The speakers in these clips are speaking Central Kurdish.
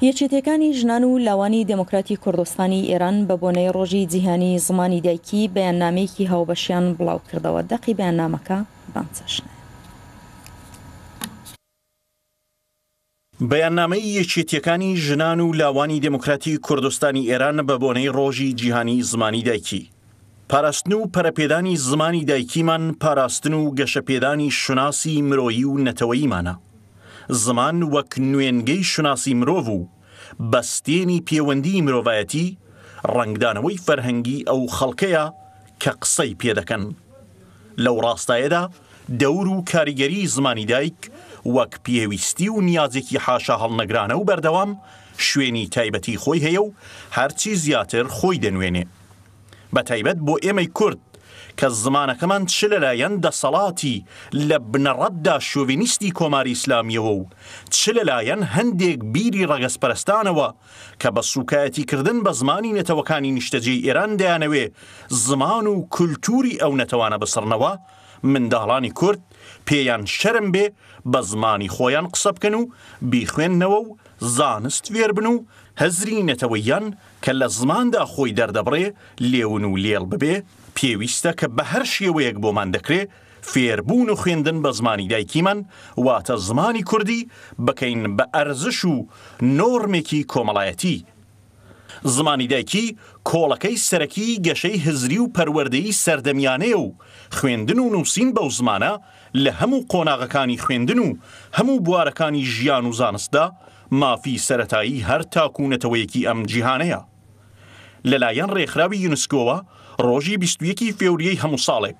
یەکێتیەکانی ژنان و لاوانی دێمۆکراتی کوردستانی ئێران بە بۆنەی ڕۆژی جیهانی زمانی دایکی بەیاننامەیەکی هاوبەشیان بڵاو کردەوە دەقی بەیاننامەکە بەم چەشنەیە. بەیاننامەی یەکێتیەکانی ژنان و لاوانی دێمۆکراتی کوردستانی ئێران بە بۆنەی ڕۆژی جیهانی زمانی دایکی، پاراستن و پەرەپێدانی زمانی دایکیمان پاراستن و گەشەپێدانی شوناسی مرۆیی و نەتەوەییمانە. زمان وەک نوێنگەی شوناسی مرۆڤ و بەستێنی پێوەندیی مرۆڤایەتی، ڕەنگدانەوەی فەرهەنگی ئەو خەڵکەیە کە قسەی پێ دەکەن. لەو ڕاستایەدا دەور و کاریگەریی زمانی دایک وەک پێویستی و نیازێکی حاشاهەڵنەگرانە و بەردەوام شوێنی تایبەتیی خۆی هەیە و هەرچی زیاتر خۆی دەنوێنێ. بە تایبەت بۆ ئێمەی کورد کە زمانەکەمان چ لەلایەن دەسەڵاتی لە بنەڕەتدا شۆڤینیستی کۆماری ئیسلامییەوە و چ لەلایەن هەندێک بیری ڕەگەزپەرستانەوە کە بە سووکایەتیکردن بە زمانی نەتەوەکانی نیشتەجێی ئێران دەیانەوێ زمان و کولتووری ئەو نەتەوانە بسڕنەوە، منداڵانی کورد پێیان شەرم بێ بە زمانی خۆیان قسە بکەن و بیخوێننەوە و زانست فێر بن و هزری نەتەوەییان کە لە زماندا خۆی دەردەبڕێ لێون و لێڵ ببێ، پێویستە کە بە هەر شێوەیەک بۆمان دەکرێ فێربوون و خوێندن بە زمانی دایکیمان واتە زمانی کوردی بکەین بە ئەرزش و نۆرمێکی کۆمەڵایەتی. زمانی دایکی کۆڵەکەی سەرەکیی گەشەی هزری و پەروەردەی سەردەمیانەیە و خوێندن و نووسین بەو زمانە لە هەموو قۆناغەکانی خوێندن و هەموو بوارەکانی ژیان و زانستدا مافی سەرەتایی هەر تاک و نەتەوەیەکی ئەم جیهانەیە. لەلایەن ڕێکخراوی یونسکۆوە ڕۆژی بیست و یەک ی فێوریەی هەموو ساڵێک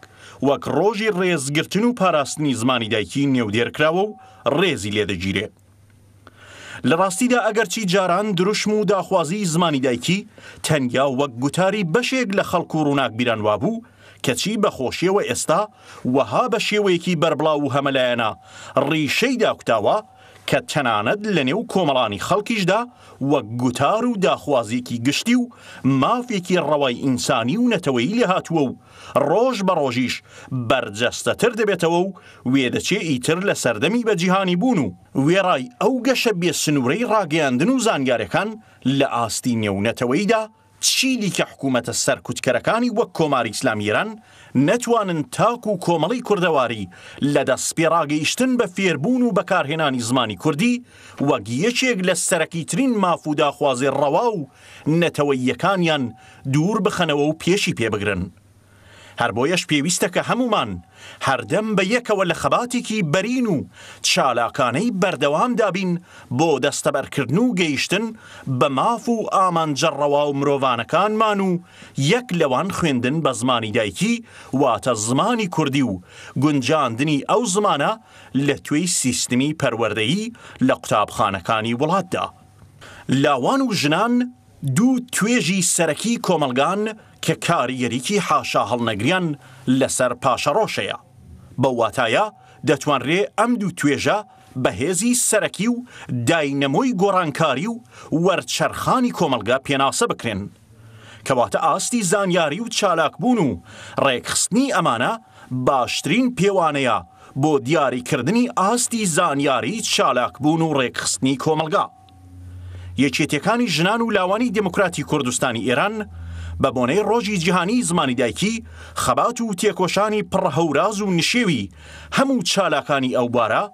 وەک ڕۆژی ڕێزگرتن و پاراستنی زمانی دایکی نێودێرکراوە و ڕێزی لێدەگیرێ. لە ڕاستیدا ئەگەرچی جاران دروشم و داخوازیی زمانی دایکی تەنیا وەک گوتاری بەشێک لە خەڵک و ڕووناکبیران وابوو، کەچی بە خۆشیەوە ئێستا وەها بە شێوەیەکی بەربڵاو و هەمەلایەنە ڕیشەی داکوتاوە، کە تەنانەت لە نێو کۆمەڵانی خەڵکیشدا وەک گوتار و داخوازیێکی گشتی و مافێکی ڕەوای ئینسانی و نەتەوەیی لێهاتووە و ڕۆژ بە ڕۆژیش بەرجەستەتر دەبێتەوە و وێدەچێ ئیتر لە سەردەمی بە جیهانی بوون و وێڕای ئەو گەشە بێ سنوورەی ڕاگەیاندن و زانیارەکان لە ئاستی نێو نەتەوەییدا چی دیکە حکوومەتە سەرکوتکەرەکانی وەک کۆماری ئیسلامی ئێران نەتوانن تاک و کۆمەڵی کوردەواری لە دەست پێ ڕاگەیشتن بە فێربوون و بەکارهێنانی زمانی کوردی وەک یەکێک لە سەرەکیترین ماف و داخوازیێ ڕەوا و نەتەوەییەکانیان دوور بخەنەوە و پێشی پێ بگرن. هەر بۆیەش پێویستە کە هەموومان هەردەم بە یەکەوە لە خەباتێکی بەرین و چالاکانەی بەردەوامدا بین بۆ دەستەبەرکردن و گەیشتن بە ماف و ئامانجە ڕەوا و مرۆڤانەکانمان و یەک لەوان خوێندن بە زمانی دایکی واتە زمانی کوردی و گونجاندنی ئەو زمانە لە توێی سیستمی پەروەردەیی لە قوتابخانەکانی وڵاتدا. لاوان و ژنان دوو توێژی سەرەکی کۆمەڵگان کە کاریگەریی حاشاهەڵنەگریان لەسەر پاشەڕۆشەیە. بەو واتایە دەتوانرێ ئەم دوو توێژە بە هێزی سەرەکی و داینەمۆی گۆڕانکاری و وەرچەرخانی کۆمەڵگە پێناسە بکرێن. کەواتە ئاستی زانیاری و چالاکبوون و ڕێکخستنی ئەمانە باشترین پێوانەیە بۆ دیاریکردنی ئاستی زانیاری چالاکبوون و ڕێکخستنی کۆمەڵگا. یەکێتیەکانی ژنان و لاوانی دێموکراتی کوردستانی ئێران بە بۆنەی ڕۆژی جیهانیی زمانی دایکی، خەبات و تێکۆشانی پڕ هەوراز و نشێوی هەموو چالاکانی ئەو بوارە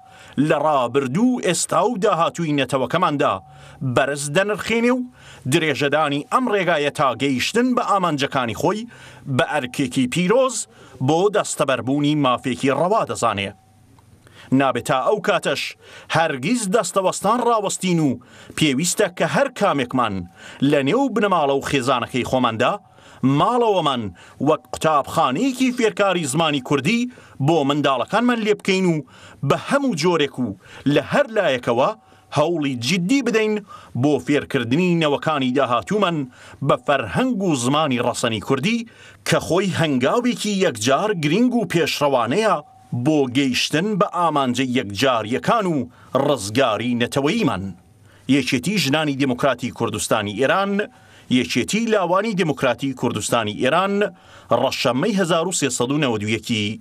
لە ڕابردوو و ئێستا و داهاتووی نەتەوەکەماندا بەرز دەنرخێنێ و درێژەدانی ئەم ڕێگایە تا گەیشتن بە ئامانجەکانی خۆی بە ئەرکێکی پیرۆز بۆ دەستەبەربوونی مافێکی ڕەوا دەزانێ. نابێت تا ئەو کاتەش هەرگیز دەستەوەستان ڕاوەستین و پێویستە کە هەر کامێکمان لە نێو بنەماڵە و خێزانەکەی خۆماندا ماڵەوەمان وەک قوتابخانەیەکی فێرکاری زمانی کوردی بۆ منداڵەکانمان لێ بکەین و بە هەموو جۆرێک و لە هەر لایەکەوە هەوڵی جیددی بدەین بۆ فێرکردنی نەوەکانی داهاتوومان بە فەرهەنگ و زمانی ڕەسەنی کوردی کە خۆی هەنگاوێکی یەکجار گرینگ و پێشڕەوانەیە بۆ گەیشتن بە ئامانجە یەکجارییەکان و ڕزگاری نەتەوەییمان. یەکێتی ژنانی دێموکراتی کوردستانی ئێران، یەکێتی لاوانی دێموکراتی کوردستانی ئێران، ڕەشەممەی هەزار و سێ سەد و نەوەد و یەک ی